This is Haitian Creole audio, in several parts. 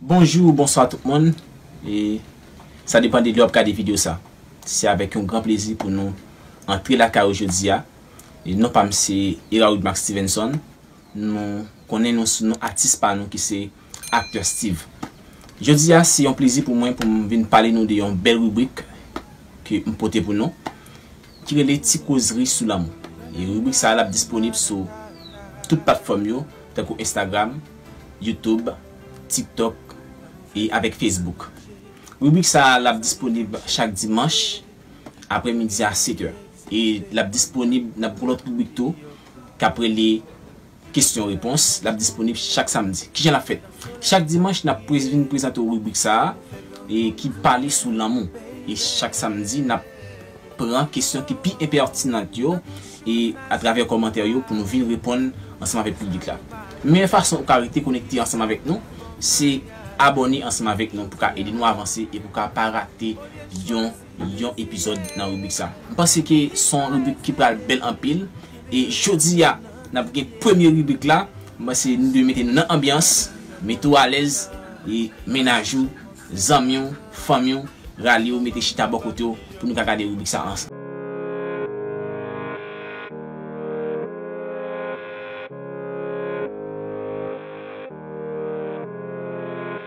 Bonjou ou bonswa tout moun e sa depan de lè wap gade video sa se avèk yon gran plezi pou nou antre lakay ou jodi a e non pam se Erard Marc Stevenson nou konnen nou sou non atis pa nou ki se Acteur Steeve jodi a se yon plezi pou mwen poum vin pale nou de yon bèl ribrik ke m pote pou nou. Ki rele Ti kozri sou lanmou. Ribrik sa a ap disponib sou tout platfòm yo, tankou Instagram, YouTube, TikTok e avèk Facebook. Ribrik sa a ap disponib chak dimanch apre midi a 7 è. E l ap disponib nan gwo lòt ribrik tou k ap rele. Kesyon repons, l ap disponib chak samdi. Kijan l ap fèt? Chak dimanch n ap vin prezante w ribrik sa a ki pale sou lanmou. E chak samdi n ap pran kesyon ki pi enpètinant yo e atravè kòmantè yo pou nou vin reponn ansanm avèk piblik la. Meyè fason ou ka rete konekte ansanm avèk nou se abòne ansanm avèk nou pou ka ede nou avanse e pou ka pa rate yon yon epizòd nan ribrik sa. M panse ke se yon ribrik ki pral bèl anpil e jodi a n ap gen premye ribrik la, m panse nou dwe mete nou nan anbyans, mete w alèz e mennaj ou, zanmi w, fanmi w rale yo mete chita bò kote w pou nou ka gade ribrik sa ansanm.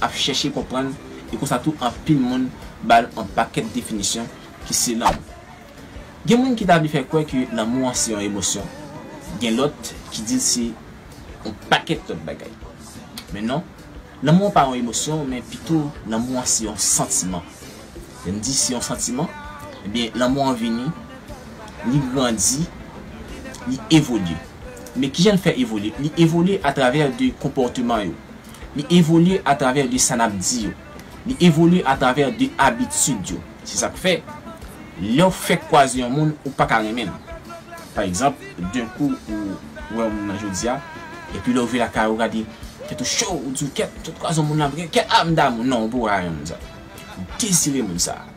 ap chèche konprann e konsa tou anpil moun ba l on pakèt definisyon ki se lanmou. Gen moun ki ta vle fè kwè ke lanmou an se on emosyon, gen lòt ki di l se on pakèt lòt bagay. Men non, lanmou an pa on emosyon men pito lanmou an se on santiman. Lè m di se on santiman, ebyen lanmou an vini, li grandi, li evolye. Men kijan l fè evolye? Li evolye atravè de konpòteman yo. Li evolye atravè de sa n ap di yo. Li evolye atravè de abitid yo. Se sa k fè, lè w fèk kwaze yon moun, ou pa ka renmen l. Pa egzanp, den kou ou wè yon moun nan jodi a, epi lè w rive lakay ou, ou gade tèt ou cho, ou di w kèt, m sot kwaze yon moun la, m gen kè, a m damou l. Non, ou poko ka renmen moun sa a. Ou dezire moun sa a.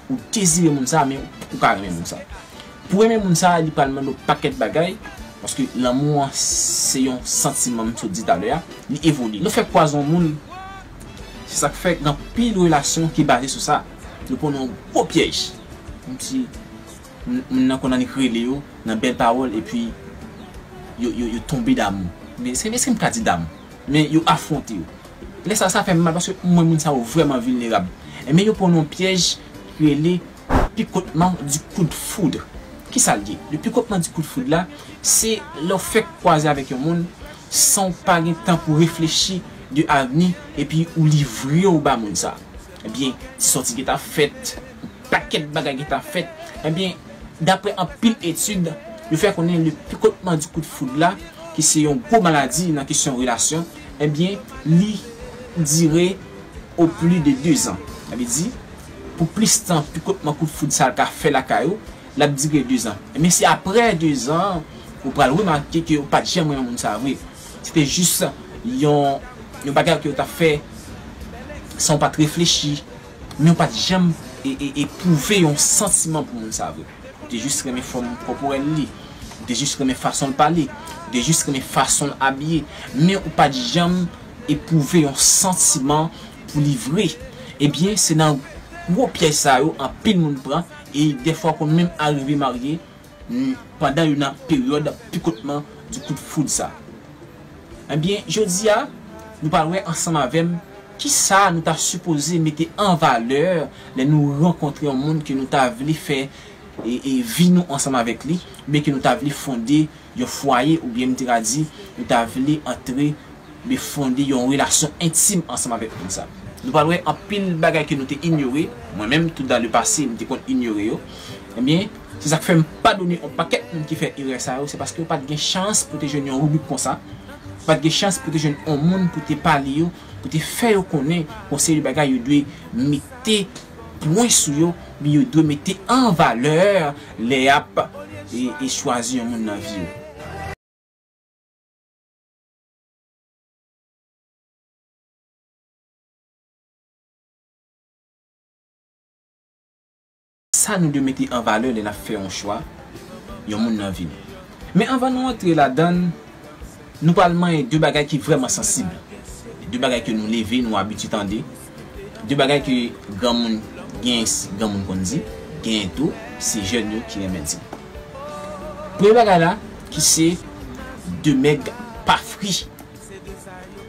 Ou dezire moun sa men ou poko ka renmen moun sa. Pou renmen moun sa li pral mande w pakèt bagay paske lanmou an se yon santiman m sot di talè a, li evolye. Nou fè pwazon moun se sak fè gen anpil relasyon ki baze sou sa. Nou pran nan yon gwo pyèj kòmsi moun nan konn annik rele yo nan bèl pawòl epi yo tonbe damou. Eskem ka di damou? Men yo afwonte yo. Lè sa a, sa fè m mal paske m wè moun sa yo vrèman vilnerab. Men yo pran yon pyèj ki rele picottement du coup de foudre. Ki sa l ye? Le picottement du coup de foudre la, se lè w fèk kwaze avèk yon moun san w pa gen tan pou w reflechi de avni epi ou livre w ba moun sa a. Ebyen, ti sòti gen ta fèt, pakèt bagay gen ta fèt. Ebyen, daprè anpil etid, yo fè konnen le pikotman di kout foud la, ki se yon gwo maladi nan kesyon relasyon, ebyen, li dire o pli de dezan. Sa vle di, pou plis tan pikotman kout foud sa ka fè lakay ou, l ap dire dezan. Ebyen, se aprè dezan an, ou pral remake ke ou pa t janm renmen moun sa vre. Se te jis yon bagay ke yo tap fè san yo pat reflechi, men yo pat janm epwouve yon santiman pou moun sa vre. Yo te jis renmen fòm kòporèl li, yo te jis renmen fason l pale, yo te jis renmen fason l abiye, men yo pat janm epwouve yon santiman pou li vre. Ebyen se nan gwo pyèj sa yo anpil moun pran e dèfwa konn menm arive marye N pandan youn nan peryòd pikotman di kout foud sa. Ebyen jodi a nou pral wè ansanm avè m kisa nou ta sipoze mete an valè lè nou rankontre yon moun ke nou ta vle fè vi nou ansanm avèk li oubyen ke nou ta vle fonde yon fwaye oubyen m te ka di nou ta vle antre oubyen fonde yon relasyon entim ansanm avèk moun sa. Nou pral wè anpil bagay ke nou te inyore, mwen menm tou dan le pase m te konn inyore yo, ebyen. Se sak fèm padone on pakèt moun ki fè erè sa yo se paske yo pat gen chans pou te jwenn yon ribrik konsa, yo pat gen chans pou te jwenn on moun pou te pale yo, pou te fè yo konnen on seri de bagay yo dwe mete pwen sou yo oubyen yo dwe mete an valè lè yap chwazi yon moun nan vi yo. Sa nou dwe mete an valè lè n ap fè yon chwa, yon moun nan vi nou. Men anvan nou antre ladan l, nou pral manyen de bagay ki vrèman sansib, de bagay ke nou leve, nou abitye tande, de bagay ke granmoun, genyen granmoun konn di, genyen tou se jèn yo ki renmen di. Premye bagay la ki se de mèg pa fri.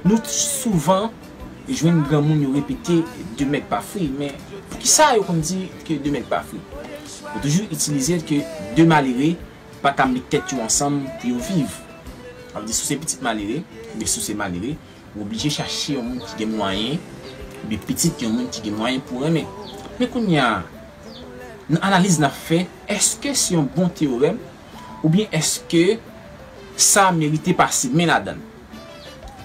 Nou souvan. jwenn granmoun yo repete de mèt pa fri men poukisa yo konn di ke de mèt pa fri? Yo toujou itilize l ke de malere pa ka met tèt yo ansanm pou yo viv. Sa vle di si w se pitit malere oubyen si w se malere ou oblije chache yon moun ki gen mwayen oubyen pitit yon moun ki gen mwayen pou w renmen. Men kounya nan analiz n ap fè èske se yon bon teyorèm oubyen èske sa merite pase men ladan l?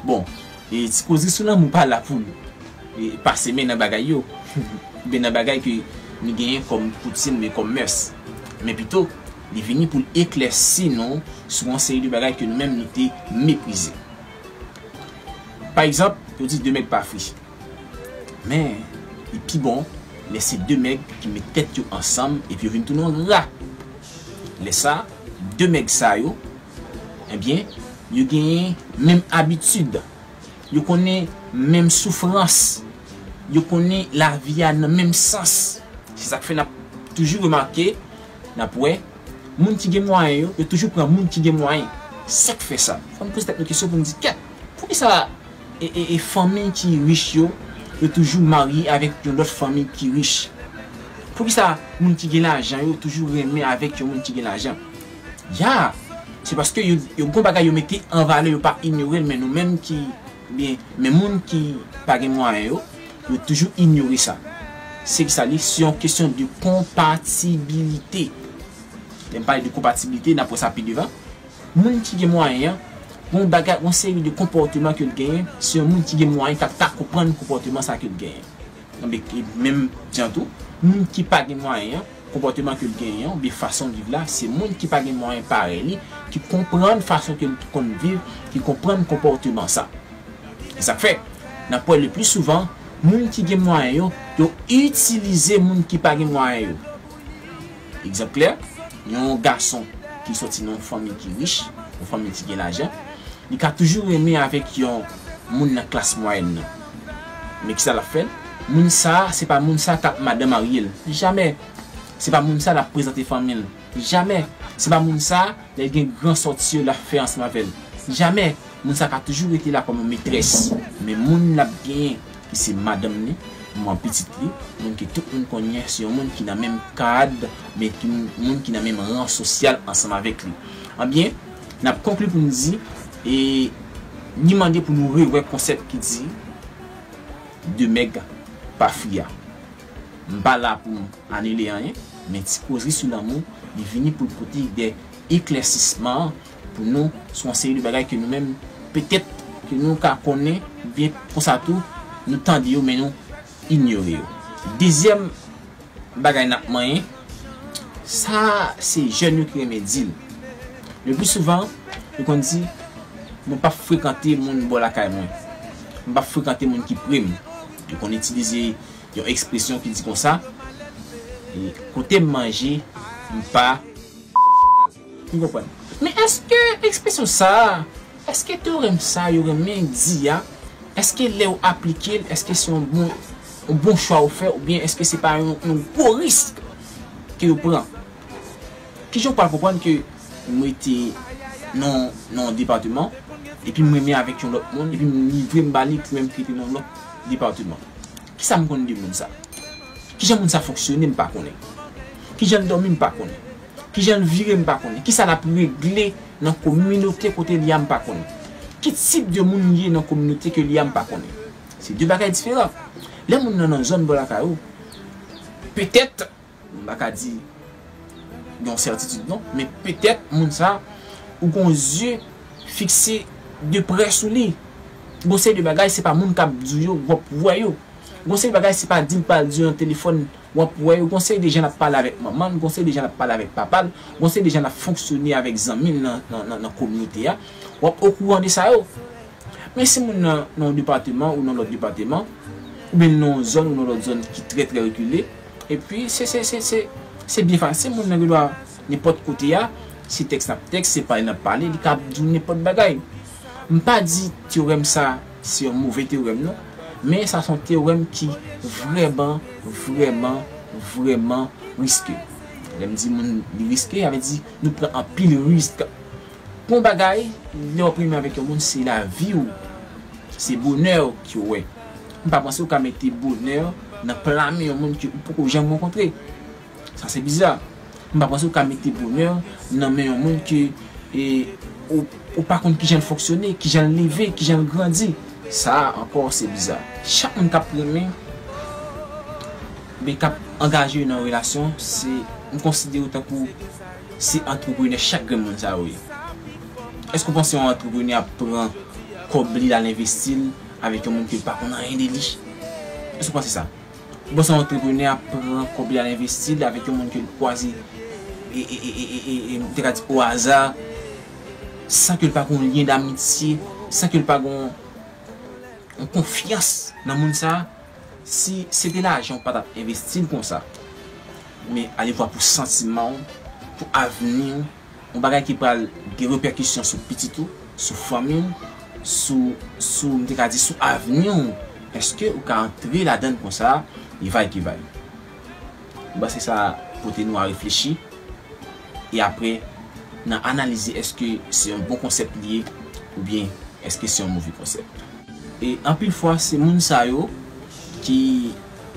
Bon, e ti koze sou lanmou pa la pou nou pase men nan bagay yo, oubyen nan bagay ke nou genyen kòm koutim oubyen kòm mès. Men pito, li vini pou l eklèsi nou sou yon seri de bagay ke nou menm nou te meprize. Pa egzanp, yo di de mèg pa fri. Men, li pi bon lè se de mèg ki met tèt yo ansanm epi yo vin tounen yon rat. Lè sa, de mèg sa yo Ebyen, yo genyen menm abitid. Yo konnen menm soufrans. Yo konnen lavi a nan menm sans. Se sa k fè n ap toujou remake, n ap wè, moun ki gen mwayen yo, yo toujou pran moun ki gen mwayen. Sa k fè sa? Fò n poze tèt nou kesyon pou n di, Kèt! Poukisa fanmi ki rich yo, yo toujou marye avèk yon lòt fanmi ki rich? Poukisa moun ki gen lajan yo toujou renmen avèk yon moun ki gen lajan? Ya! Se paske yo yo gon bagay yo mete an valè yo pa inyore l men nou menm ki byen men moun ki pa gen mwayen yo yo toujou inyore sa. Se ki sa li se yon kesyon de konpatibilite. Lè m pale de konpatibilite n ap wè sa pi devan. Moun ki gen mwayen an gon bagay gon seri de konpòteman ke l genyen se yon moun ki gen mwayen k ap ka konprann konpòteman sa ke l genyen. Menm jan tou moun ki pa gen mwayen an Konpòteman ke l genyen oubyen fason l viv la, se moun ki pa gen mwayen parèy li ki konprann fason ke l konn viv, ki konprann konpòteman sa. E sa k fè, n ap wè lepli souvan, moun ki gen mwayen yo, yo itilize moun ki pa gen mwayen yo. Egzanp klè, yon gason ki soti nan yon fanmi ki rich, yon fanmi ki gen lajan, li ka toujou renmen avèk yon moun nan klas mwayèn nan. Men kisa lap fè? Moun sa se pa moun sa kap madan maryel. Jamè! Se pa moun sa lap prezante fanmil. Jamè! Se pa moun sa lèl gen gran sòti yo lap fè ansanm avèl. Jamè! Moun sa ka toujou rete la kòm yon metrès. Men moun lap genyen ki se madanm li, manman pitit li, moun ke tout moun konnen se yon moun ki nan menm kad men ki moun ki nan menm ran sosyal ansanm avèk li. Anbyen, N ap konkli pou n di, e ni mande pou nou rewè konsèp ki di de mèg pa fri a. M pa la pou m anile anyen, men ti kozri sou lanmou li vini pou l pote de eklèsisman pou nou sou yon seri de bagay ke nou menm petèt ke nou ka konnen oubyen konsa tou nou tande yo men nou inyore yo. Dezyèm bagay n ap manyen, sa se jèn yo ki renmen di l. Le pli souvan, yo konn di, Mwen p ap frekante moun bò lakay mwen. Mwen p ap frekante moun ki pre m. Yo konn itilize yon ekspresyon ki di konsa, Kote m manje, m pa. M konprann. Men èske ekspresyon sa a, èske teorèm sa yo renmen di a, èske lè ou aplike l, èske se yon bon yon bon chwa ou fè oubyen èske se pa yon yon gwo risk ke yo pran? Kijan ou pral konprann ke m rete nan nan yon depateman epi m renmen avèk yon lòt moun epi m livre m ba li pou menm ki rete nan yon lòt depateman? Kisa m konn de moun sa? Kijan moun sa fonksyone m pa konnen. Kijan l dòmi m pa konnen. Kijan l vire m pa konnen. Kisa l ap regle nan kominote kote l ye a m pa konnen. Ki tip de moun li ye nan kominote ke l ye a m pa konnen. Se de bagay diferan. Lè moun nan nan zòn bò lakay ou, petèt, m pa ka di gen yon sètitid non, men petèt moun sa a ou gen yon zye fikse de prè sou li. Gen yon seri de bagay se pa moun k ap di w yo w ap wè yo. Gen yon seri de bagay se pa di l pa di yo nan telefòn. W ap wè yo, gon seri de jan l ap pale avèk manman l, gon seri de jan l ap pale avèk papa l, gon seri de jan l ap fonksyone avèk zanmi l nan kominote a. W ap okouran de sa yo. Men si moun nan nan yon depateman ou nan yon lòt depateman, oubyen li nan yon zòn ou nan yon lòt zòn ki trè trè rekile, epi se, se, se, se, se byen fasil, moun nan gen dwa nenpòt kote a, se tèks n ap tèks, se pale n ap pale, li kab di w nenpòt bagay. M pa di teorèm sa se yon move teorèm non, men sa se yon teorèm ki vrèman, vrèman, vrèman riske. Lè m di moun li riske, sa vle di nou pran anpil risk. Pou yon bagay, lè w ap renmen avèk yon moun, se lavi w, se bonè w ke w wè. M pa panse ou ka mete bonè nan pla men yon moun ke ou poko janm rankontre. Sa se biza. M pa panse ou ka mete bonè nan men yon moun ke ou pa konn kijan l fonksyone, kijan l leve, kijan l grandi. Sa a ankò se biza. Chak moun k ap renmen, oubyen k ap angaje yo nan yon relasyon, se, m konsidere yo tankou se antreprenè chak grenn moun sa yo ye. Èske ou panse yon antreprenè ap pran kòb li l al envesti l avèk yon moun ke l pa konn anyen de li? Èske ou panse sa? Bon sa antreprenè ap pran kòb li al envesti li avèk yon moun ke l kwaze e m te ka di o aza san ke l pa gen yon lyen damitye, san ke l pa gen yon konfyans nan moun sa. Si se te lajan ou pa t ap envesti l konsa. Men alevwa pou santiman ou, pou avni ou. yon bagay ki pral gen repèkisyon sou pitit ou, sou fanmi w, sou, sou, m te ka di sou avni w, èske ou ka antre ladan l konsa, li va y ki va y? M panse sa pote nou a reflechi, e apre nan analize èske se yon bon konsèp li ye oubyen èske se yon move konsèp. E anpil fwa se moun sa yo ki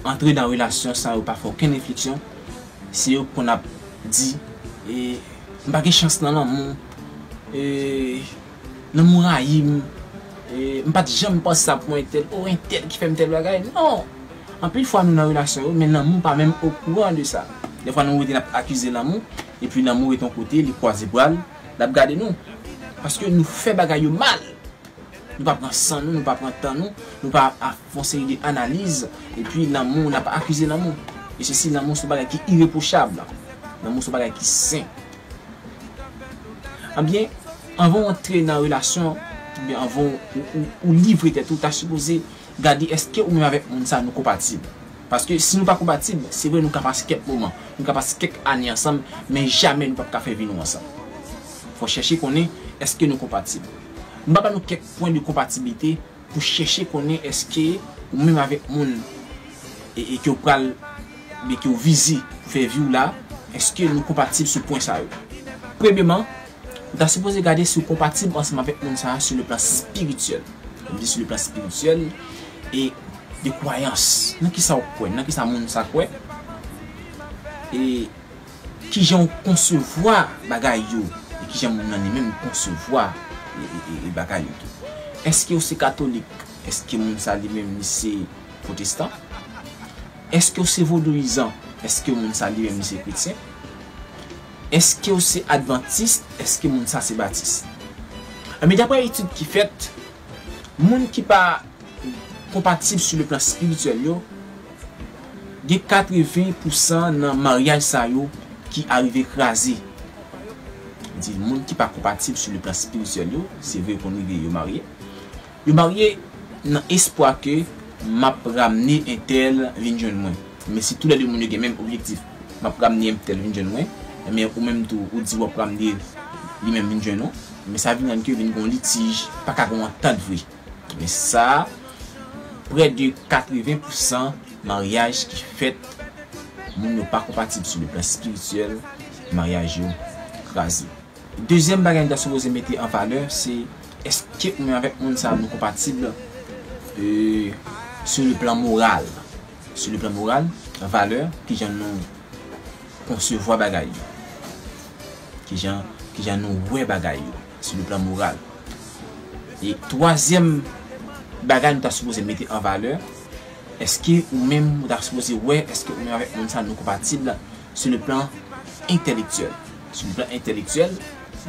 antre nan relasyon san yo pa fè okenn refleksyon, Se yo k konn ap di m pa gen chans nan lanmou, lanmou rayi m, m pat janm panse sa pou mwen entèl, oh entèl ki fè m tèl bagay, non! Anpil fwa nou nan relasyon yo men lanmou pa menm okouran de sa. Dèfwa nou rete n ap akize lanmou epi lanmou rete yon kote li kwaze bra l l ap gade nou paske nou fè bagay yo mal. Nou pa pran san nou, nou pa pran tan nou, nou pa fon seri de analiz, epi lanmou, n ap akize lanmou. E se si lanmou se yon bagay ki irepwochab, lanmou se yon bagay ki sen. Ebyen, anvan w antre nan relasyon, ebyen anvan ou livre tèt ou, ta sipoze gade eske ou menm avèk moun sa nou konpatib. Paske si nou pa konpatib, se vre nou ka pase kèk moman, nou ka pase kèk ane ansanm, men jamè nou p ap ka fè vi nou ansanm. Fò chèche konnen eske nou konpatib. M va ba nou kèk pwen de konpatiblite pou chèche konnen èske ou menm avèk moun e ke ou pral oubyen ke ou vize pou fè vi w la, èske nou konpatib sou pwen sa yo. Premyeman, ou ta sipoze gade si ou konpatib ansanm avèk moun sa sou le plan spirityèl. Lè m di sou le plan spirityèl, e de kwayans, nan kisa ou kwè, nan kisa moun sa kwè. E. Kijan ou konsevwa bagay yo e kijan moun nan li menm konsevwa bagay yo tou. Eske ou se katolik? Eske moun sa li menm li se pwotestan? Eske ou se vodouyizan? Eske moun sa li menm li se kretyen? Eske ou se advantis? Eske moun sa se batis? Enben daprè etid ki fèt, moun ki pa konpatib sou le plan espirityèl yo, Gen 80 pou san nan maryaj sa yo ki arive kraze. Mwen di moun ki pa konpatib sou le plan spirityèl yo, se vre yo konn rive yo marye. Yo marye nan espwa ke m ap ramne entèl vin jwenn mwen. Men si tou lè 2 moun yo gen menm objektif, m ap ramne entèl vin jwenn mwen, men ou menm tou ou di w ap ramne li menm vin jwenn ou, men sa vin rann ke vin gen yon litij, pa ka gen yon antant vre. Ebyen sa, prè de 80 pou san maryaj ki fèt, moun yo pa konpatib sou le plan espirityèl, maryaj yo kraze. Dezyèm bagay nou ta sipoze mete an valè se eske ou menm avèk moun sa nou konpatib sou le plan moral, sou le plan moral, valè, kijan nou konsevwa bagay yo, kijan nou wè bagay yo. sou le plan moral. E twazyèm bagay nou ta sipoze mete an valè, èske ou menm ou ta sipoze wè èske ou menm avèk moun sa nou konpatib sou le plan entèlektyèl. Sou le plan entèlektyèl,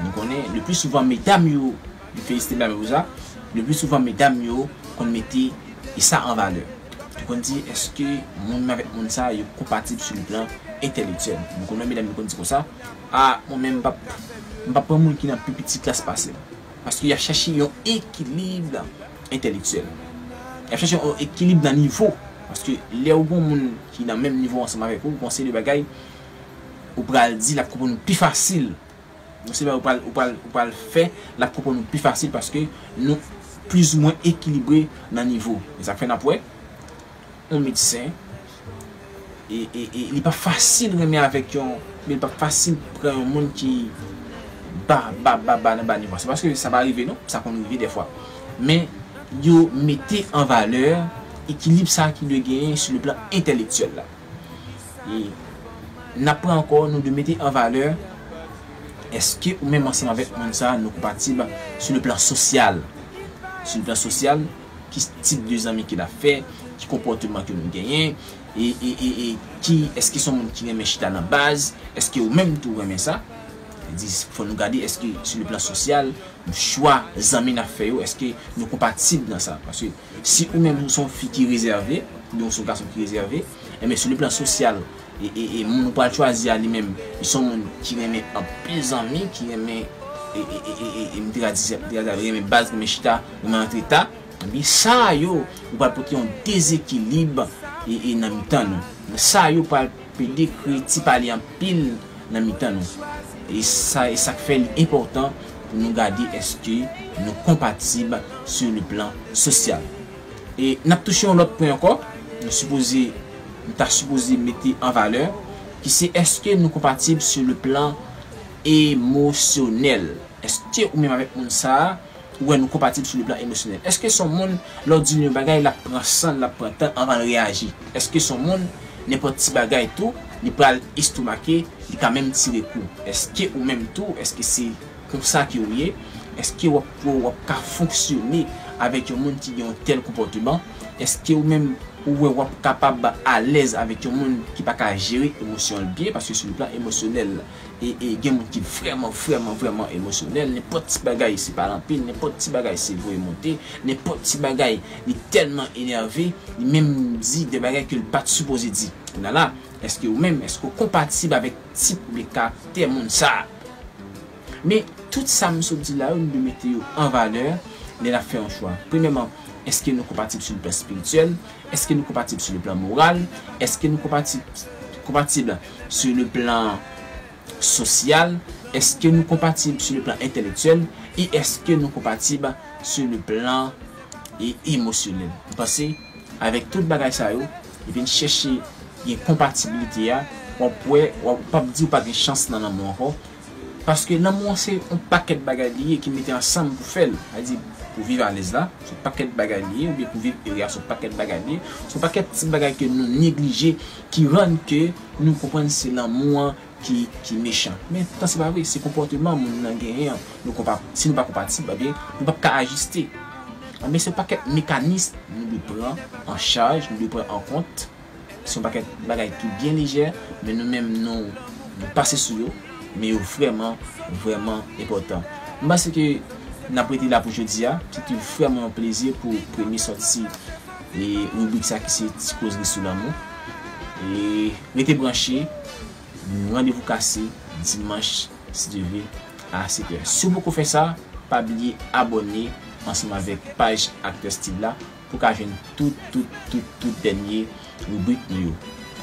nou konnen le pli souvan medam yo, m felisite Blami pou sa, le pli souvan medam yo konn mete sa an valè. Yo konn di èske moun m avèk moun sa yo konpatib sou le plan entèlektyèl. Nou konnen medam yo konn di konsa. A mwen menm m pap m pap pran moun ki nan pi piti klas pase m. Paske y ap chache yon ekilib entèlektyèl. Y ap chache yon ekilib nan nivo. Paske lè ou gon moun ki nan menm nivo ansanm avèk ou, gon seri de bagay ou pral di l ap konprann ou pi fasil. Gon seri de bagay ou pral ou pral ou pral fè l ap konprann ou pi fasil paske nou plizoumwen ekilibre nan nivo. E sa k fè n ap wè yon medsen. e li pa fasil renmen avèk yon men li pa fasil pran yon moun ki ba ba ba ba nan ba nivo a se paske sa pa rive non sa konn rive dèfwa men yo mete an valè ekilib sa ki dwe genyen sou le plan entèlektyèl la e n ap pran ankò nou dwe mete an valè èske ou menm ansanm avèk moun sa nou konpatib sou le plan sosyal sou le plan sosyal Ki tip de zanmi ke nap fè, ki konpòteman ke nou genyen, e e ki eske son moun ki renmen chita nan baz, eske ou menm tou renmen sa, sa di fò nou gade eske sou le plan sosyal, chwa zanmi nap fè yo eske nou konpatib nan sa, paske si ou menm ou son fi ki rezève, oubyen ou son gason ki rezève, enben sou le plan sosyal E moun ou pral chwazi a li menm li son moun ki renmen anpil zanmi ki renmen e m te ka di sa renmen baz renmen chita renmen antre ta ebyen sa yo yo pral pote yon dezekilib e nan mitan nou sa yo pral pede kreye ti pale anpil nan mitan nou e sa e sak fè li enpòtan pou nou gade èske nou konpatib sou le plan sosyal. E n ap touche yon lòt pwen ankò, nou sipoze, nou ta sipoze mete an valè, ki se èske nou konpatib sou le plan emosyonèl? Èske ou menm avèk moun sa a, ou wè nou konpatib sou le plan emosyonèl? Èske se yon moun lè w di li yon bagay l ap pran san l, l ap pran tan anvan l reyaji? Èske se yon moun nenpòt ti bagay tou li pral estomake, li ka menm tire kou? Èske ou menm tou, èske se. Pou sa ke ou ye, èske w ap kwè ou ap ka fonksyone avèk yon moun ki gen yon tèl konpòteman? Èske ou menm ou wè ou ap kapab alèz avèk yon moun ki pa ka jere emosyon l byen? Paske sou le plan emosyonèl, e gen moun ki vrèman, vrèman, vrèman emosyonèl, nenpòt ti bagay se pale anpil, nenpòt ti bagay se voye monte, nenpòt ti bagay li tèlman enève, li menm di de bagay ke l pa t sipoze di. Kounye a la, èske ou menm, èske ou konpatib avèk. Ti pouli karaktè moun sa. Men, tout sa m sot di la yo, nou dwe mete yo an valè lè n ap fè yon chwa. Premyèman, èske nou konpatib sou plan espirityèl? Èske nou konpatib sou plan moral? Èske nou konpatib konpatib sou le plan sosyal? Èske nou konpatib sou le plan entèlektyèl? E èske nou konpatib sou le plan emosyonèl? M panse. Avèk tout bagay sa yo, vin chèche gen konpatibilite a, wap wè wap pap di ou pa gen chans nan lanmou ankò, paske lanmou an se yon pakèt bagay li ye ki mete ansanm pou fèl, sa vle di pou viv alèz la se yon pakèt bagay li ye oubyen pou viv ere a se yon pakèt bagay li ye, se yon pakèt ti bagay ke nou neglije ki rann ke nou konprann se lanmou an ki mechan. Men poutan se pa vre, se konpòteman moun nan genyen an nou konpa, si nou pa konpatib ebyen nou pap ka ajiste. Ebyen se yon pakèt mekanism nou dwe pran an chaj, nou dwe pran an kont, se yon pakèt bagay ki byen lejè men nou menm nou pase sou yo, men yo vrèman, vrèman enpòtan. M panse ke nap rete la pou jodi a, se te vrèman yon plezi pou premye sòti. E ribrik sa ki se ti kozri sou lanmou. E rete branche nou randevou kase dimanch si Dye vle a 7 è. Si w poko fè sa, pa bliye abòne ansanm avèk paj Aktè Steeve la pou w ka jwenn tout tout tout tout dènye ribrik nou yo.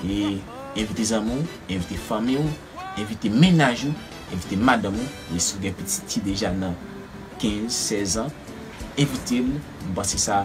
E envite zanmi w, envite fanmi w, envite mennaj ou, envite madanm ou, e si w gen pitit ki deja nan 15, 16 an, envite l, m panse sa.